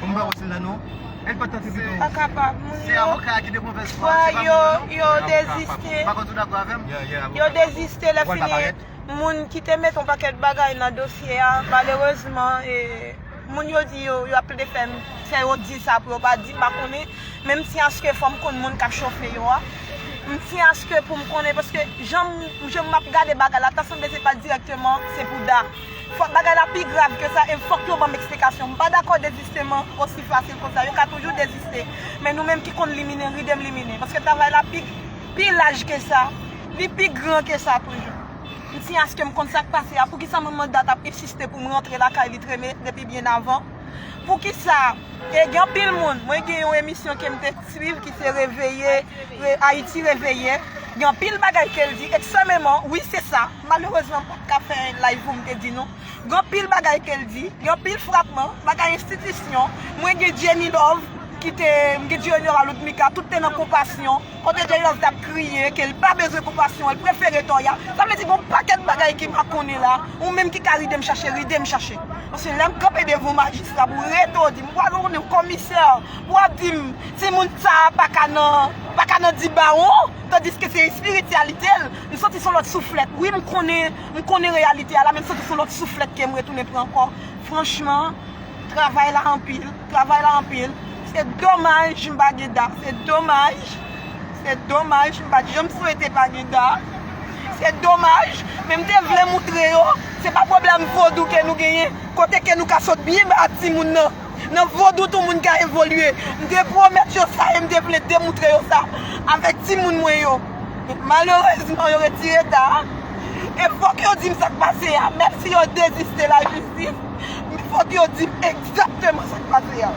Mwen pa wè se la non. El pa tante pito. Pa kapab moun yo. Se avoka a ki de movèz fwa. Fwa yo yo deziste. Pa konn tou dakò avè m? Yo deziste lè fini moun ki te mete yon pakèt bagay nan dosye a malerezman e moun yo di yo ap plede fè m fè yo di sa pou yo pa di m pa konnen men m tyen aske fò m konn moun k ap chofe yo a. M tyen aske pou m konnen paske jan m ap gade bagay la ta sanble se pa dirèkteman se pou da. Fòk bagay la pi grav ke sa e fòk yo banm eksplikasyon. M pa dakò dezisteman osi fasil konsa. Yo ka toujou deziste. Men nou menm ki konn limine, ride m limine. Paske travay la pi pi laj ke sa. Li pi gran ke sa toujou. M siyen aske m konn sa k pase a. Poukisa manman Dat ap ensiste pou m rantre lakay li treme depi byen avan? Poukisa e gen anpil moun, mwen gen yon emisyon ke m te swiv ki se Reveye, Ayiti Reveye, gen anpil bagay ke l di eksememan, wi se sa. Malerezman m pat ka fè live poum te di nou gen anpil bagay kel di, gen anpil frapman bagay enstitisyon, mwen gen Jenny Love ki te, m gen Junior Aloudmika tout te nan konpasyon, kote Jenny Love tap kriye kel pa bezwen konpasyon l prefere Toya, sa vle di gon pakèt bagay ki pa konnen la, ou menm ki ka ridem chache ridem chache, paske lèm kanpe devan w majistra pou rete w di m pral rele w komisè pou wap di m timoun sa paka nan paka nan di bawon tandiske se espirityalite l. M soti son lòt souflèt wi m konnen m konnen reyalite a la men m soti son lòt souflèt kem retounen pran ankò franchman travay la anpil travay la anpil se domaj m pa gen da se domaj se domaj m pat janm swete pa gen da se domaj men m te vle moutre yo se pa pwoblèm vodou ke nou genyen kote ke nou ka sot byen ba timoun nan. Nan vodou tou moun ka evolye. M te pwomèt yo sa e m te vle demoutre yo sa avèk timoun mwen yo. Malerezman yo retire eta a. E fòk yo di m sa k pase a. Menm si yo deziste lajistis, men fòk yo di m egzakteman sa k pase a.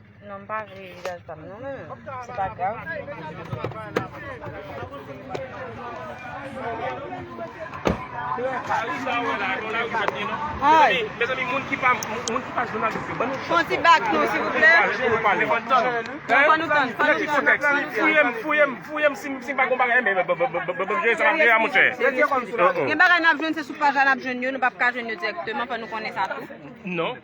Non m pa vle vizaj pam non men se pa grav. Fon ti bak nou silvouplè. Gen bagay nap jwenn se sou paj la nap jwenn yo nou pap ka jwenn yo direkteman fò nou konnen sa tou.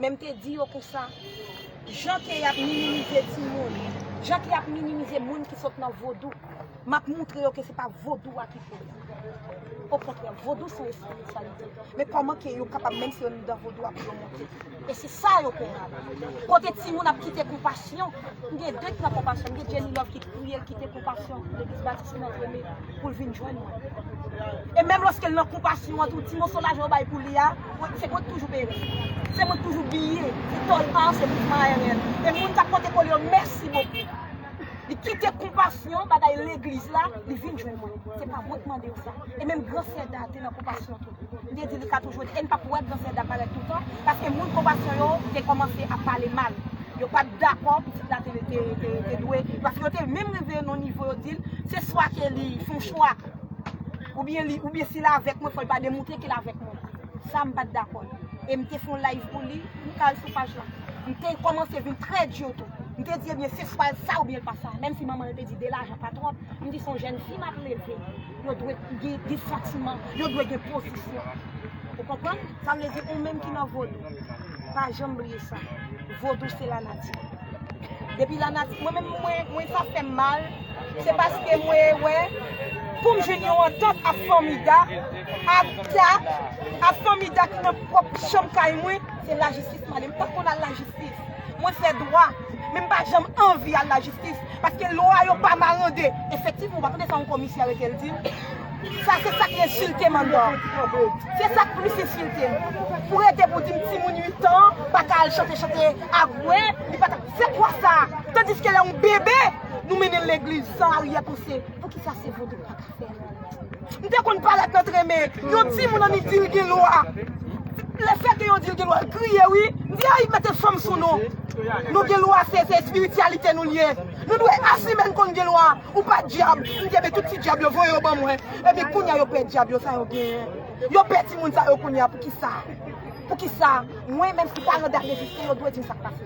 Men m te di yo konsa, Jan ke y ap minimize timoun, jan ke y ap minimize moun ki sot nan vodou, m ap moutre yo ke se pa vodou a ki fè yo. Okontrè, vodou se yon espirityalite. Men kòman ke yo kapab, menm si yo nan vodou a, pou yo monte? E se sa yo pè a. Kote timoun ap kite konpasyon, m gen de ki nan konpasyon. M gen Jenny Love ki priye, l kite konpasyon pou legliz Batis. Ti nèg rele pou l vin jwenn mwen. E menm lòske l nan kou pasyon an tou, ti moso lajan yo bay pou li a, se mwen k toujou peye l. Se mwen k toujou biye, ti tòl pa an se mwen k mayènè l. E moun k ap pote kole yo, mèsi bokou. Li kite kou pasyon, bagay legliz la, li vin jwenn mwen. Se pa mwen k mande yo sa. E menm gran sè Dan te nan kou pasyon tou. M te di li ka toujou di e n pap wè Gransèd la parèt toutan paske moun konpasyon yo te kòmanse ap pale mal. Yo pa t dakò pitit la te dwe paske yo te menm rive nan yon nivo yo di l se swa ke li fè yon chwa oubyen li oubyen si l avèk mwen fò l pa demoutre ke l avèk mwen. Sa m pa t dakò e m te fè yon live pou li, ou ka al sou paj la. M te kòmanse vin trè dur tou. M te di ebyen se swa l sa oubyen l pa sa menm si manman l te di 2 lajan pa twòp, m di se yon jèn fi m ap leve. Yo dwe gen santiman, yo dwe gen pozisyon. Ou konprann? Sa vle di ou menm ki nan vodou, pa janm bliye sa. Vodou se lanati. Depi lanati, mwen menm mwen sa fè m mal, se paske mwen wè pou m jwenn yon antant ak Fanmida, ak Dak, ak Fanmida ki nan pwòp chanm kay mwen, se lajistis m ale. M pa konn al lajistis. Mwen fè dwa. Men m pa janm anvi al lajistis paske lwa yo pa marande. Efektivman, ou pa tande sa yon komisè arete l di? Sa se sa k ensilte m anndan an. Se sa k plis ensilte m. Pou rete pou di m timoun 8 an pa ka al chante chante avwe, li pa ta Se kwa sa? Tandiske lè yon bebe, nou mennen l legliz san aryè panse. Poukisa se vodou l pa ka fè l? M te konn paret nan tren men yon timoun annik di l gen lwa. Le fè ke yo di l gen lwa l kriye wi. M di a y mete fanm sou nou. Nou gen lwa se espirityalite nou l ye. Nou dwe asime n konn gen lwa. Ou pa dyab. M di ebyen tout ti dyab yo voye yo ban mwen. Ebyen kounya yo pè dyab yo sa yo genyen. Yo pè timoun sa yo kounya poukisa. Poukisa. Mwen menm si paran Dave reziste yo dwe di m sa k pase.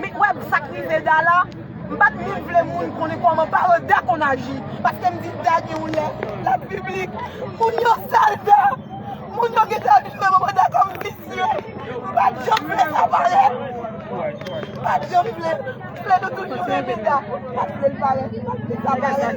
Met wè sak rive Da la, m pat menm vle moun konnen kòman paran Da konn aji, paske m di Da gen yon lè lap piblik, moun yo sal Da, moun yo gentan vin wè manman Da kòm visye, m pat janm vle sa parèt, m pat janm vle, m vle nou toujou renmen Da, m pat vle l parèt, m pat vle sa parèt.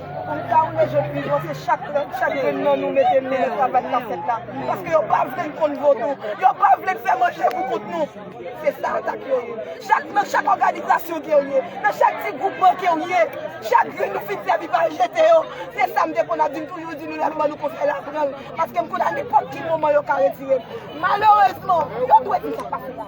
Pou nou ka woule je pi lwen se chak grenn nan nou mete men nan travay kap fèt la. Paske yo pa vle n konn vodou. Yo pa vle n fè manje pou kont nou. Se sa atak yo ye. Chak nan chak òganizasyon kew ye, nan chak ti gwoupman kew ye, chak grenn nou fin sèvi pa al jete yo. Se sa m te konn ap di, m toujou di nou lèm ban nou konsèy la pran l. Paske m konn a nenpòt ki moman yo ka retire l. Malerezman, yo dwe di sa k pase la.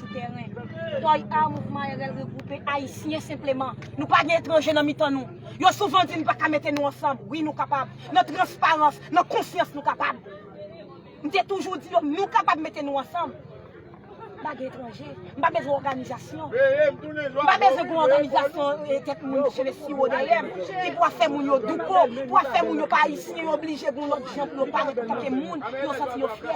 sou tèren. Toy A Mouvman RL regwoupe Ayisyen senpleman. Nou pa gen etranje nan mitan nou. Yo souvan di nou pa ka mete nou ansanm. Wi nou kapab. Nan transparans, nan konsyans nou kapab. M te toujou di yo nou kapab mete nou ansanm. M pa gen etranje. M pa bezwen òganizasyon. M pa bezwen gen yon òganizasyon kèk moun ki sele siwo dèyè m, ki pou ap fè moun yo douko, pou ap fè moun yo pa ayisyen, yo oblije gen yon lòt jan pou yo parèt antanke moun, pou yo santi yo fyè.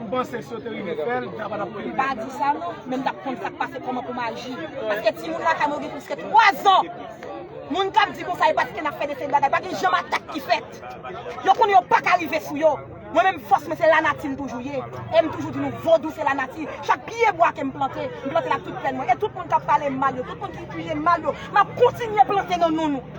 Ou panse si yo te rive fèl, li ta pa tap rive? Pa di sa non, men m tap konn sak pase koman pou m aji. Paske timoun lakay mwen yo gen plis ke 3 zan. Moun kap di konsa e paske nap fè de seri bagay. Pa gen janm atak ki fèt. Yo konnen yo paka rive sou yo. Mwen menm fòs mwen se lanati m toujou ye. E m toujou di nou vodou se lanati. Chak pye bwa ke m plante, m plante l ak tout pèn mwen. E tout moun kap pale m mal yo, tout moun ki kriye m mal yo, map kontinye plante nan non nou.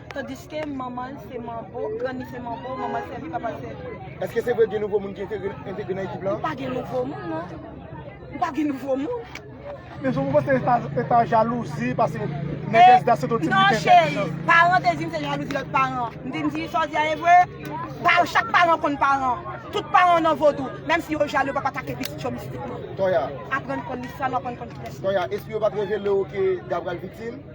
Tandiske manman l se manbo, grann li se manbo, manman l sèvi, papa l sèvi. Eske se vre gen nouvo moun ki entegre nan ekip lan? Pa gen nouvo moun non. Pa gen nouvo moun. Men jan mwen wè se te ta jalouzi pase Nègès da se te ti biten tèt li nan. Paran te di m se jalouzi lòt paran. M di m di sa w di a e vre? Chak paran konn paran. Tout paran nan vodou. Menm si yo jalou yo pa pa take pitit yo mistikman. Toya. Aprann konn listwa nou, aprann konn kilès nou. Toya, espri yo pa t revele w ke Gab pral viktim?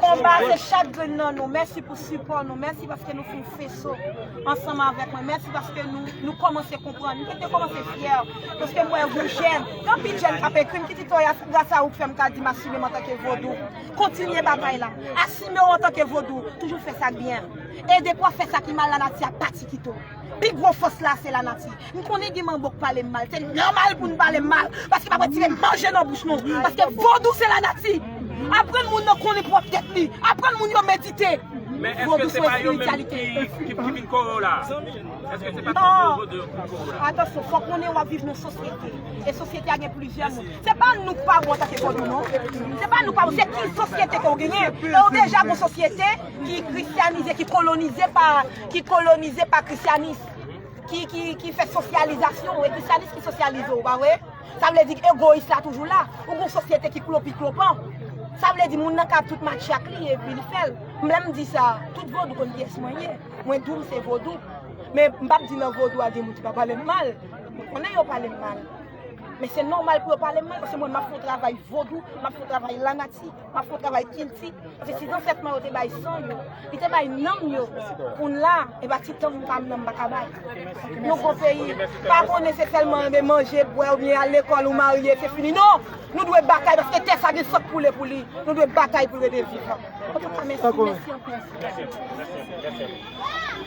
Konba a se chak grenn nan nou. Mèsi pou sipò nou. Mèsi paske nou fè feso ansanm avèk mwen. Mèsi paske nou kòmanse konprann. Mwen te kòmanse fyè paske m wè yon jèn. Gen anpil jèn k ap ekri m ki di, Toya, se gras a ou k fè m ka di m asime m antanke Vodou. Kontinye batay la. Asime w antanke Vodou. Toujou fè sa k byen. E dekwa fè sa ki mal lanati ap pati kite w. Pi gwo fòs la se lanati. M konnen gen manbo k pale m mal. Se nòmal pou n pale m mal. Paske m ap retire manje nan bouch nou. Paske vodou se lanati. Aprann moun nan konnen pwòp tèt li. Aprann moun yo medite. Vodou se espirityalite. Atansyon, fò w konnen w ap viv nan sosyete. E sosyete a gen plizyè moun. Se pa nou k pa bon antanke vodou non. Se pa nou k pa bon. Se ki sosyete ke w genyen. E w deja gon sosyete ki kristyanize, ki kolonize pa. ki kolonize pa krisyanis, ki fè sosyalizasyon, e krisyanis ki sosyalize ou, pa vre? Sa vle di egoyis la toujou la, ou gon sosyete ki klopiklopan. Sa vle di moun nan ka ap tout matche ak li epi li fè l. M lè m di sa, tout vodou konn kiyès mwen ye. Mwen di w m se vodou. Men m pa p di nan vodou a gen moun ki pa pale m mal. Mwen konnen yo pale m mal. Men se nòmal pou yo pale m mal paske mwen m ap fè yon travay vodou, m ap fè yon travay lanati. Wap fon travay kilti, paske si zansèt mwen yo te bay san yo, li te bay nanm yo pou n la, epa ti tanm pa m nan m pa ka bay. Nou gwo peyi, pa konnen se sèlman anbe manje, bwè oubyen al lekòl ou marye se fini non! Nou dwe batay paske tè sa gen san k koule pou li, nou dwe batay pou l rete vivan. Antouka mèsi, mèsi anpil.